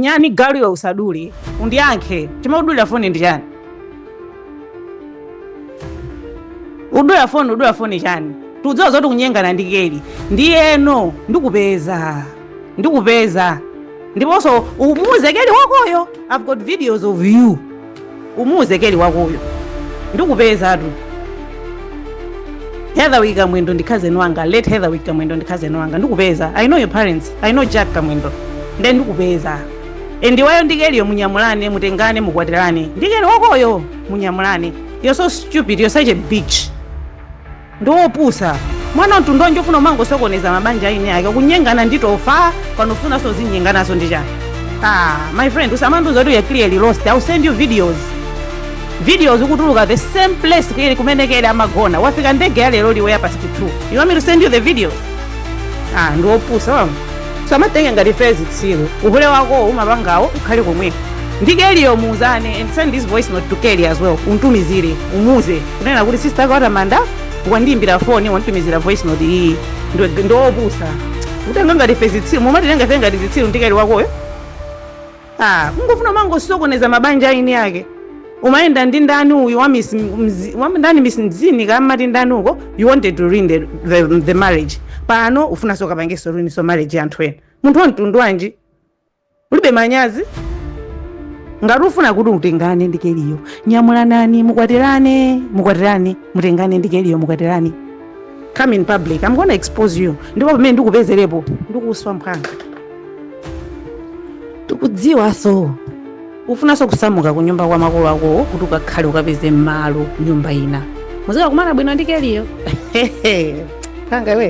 Nyani galu iwe usadule. Undiyankhe. Chimene udulira foni ndi chani? Udulira foni, udulira foni chani? Tidziwa zoti ukunyengana ndi keli. Ndiyeno ndikupeza. Ndikupeza. Ndiponso umuuze keli wakoyo. I've got videos of you. umuuze keli wakoyo ndikupezatu heatherwick kamwendo ndi cousin wanga late heatherwick kamwendo ndi cousin wanga ndikupeza i know your parents i know jack kamwendo nde ndikupeza and iweyo ndi keliyo munyamulane mutengane mukwatirane ndi keli wakoyo munyamulane you're so stupid you're such a bitch ndiwe opusa mwana mtundu wanji ofuna umangosokoneza mabanja aeni ake kunyengana ndi tofa panofunanso zonyenganazo ndi chani ah, my friend usamandiuza kuti we are clearly lost ill send you videos videos ukutuluka the same place kuyeli kumene kele amagona wafika ndege ya lero iwe ya past 2 you want me to send you the videos ah, ndiwe opusa wamva usamatitenge ngati ife zitsiru uhule wakowo umapangawo ukhale komweko ndi keliyo muuzane and send this voice note to kelly as well umtumizire umuuze kunena kuti sister ake a tamanda wandiimbira foni wanditumizira voice note iyi Ndo- ndiwe opusa kutitenga ngati ife zitsiru mumatitenga ife ngati zitsiru ndi keli wakoyo Aaa kungofuna kumangosokoneza mabanja aeni ake umayenda ndi ndani uyu wa miss mzi, wa ndani miss mzini amati ndani uko you wanted to ruin the, the, the marriage pano ufunanso ukapangenso ruin so marriage ya anthu ena munthu wa mtundu wanji ulibe manyazi ngati ufuna kuti mutengane ndi keliyo nyamulanani mukwatirane mukwatirane mutengane ndi keliyo mukwatirane come in public i'm gonna expose you ndipo pamene ndikupezerepo ndikuswa mphanga tikudziwanso ufunanso kusamuka ku nyumba kwa makolo akowo kuti ukakhale ukapeze malo nyumba ina muzikakumana bwino ndi keliyo kanga iwe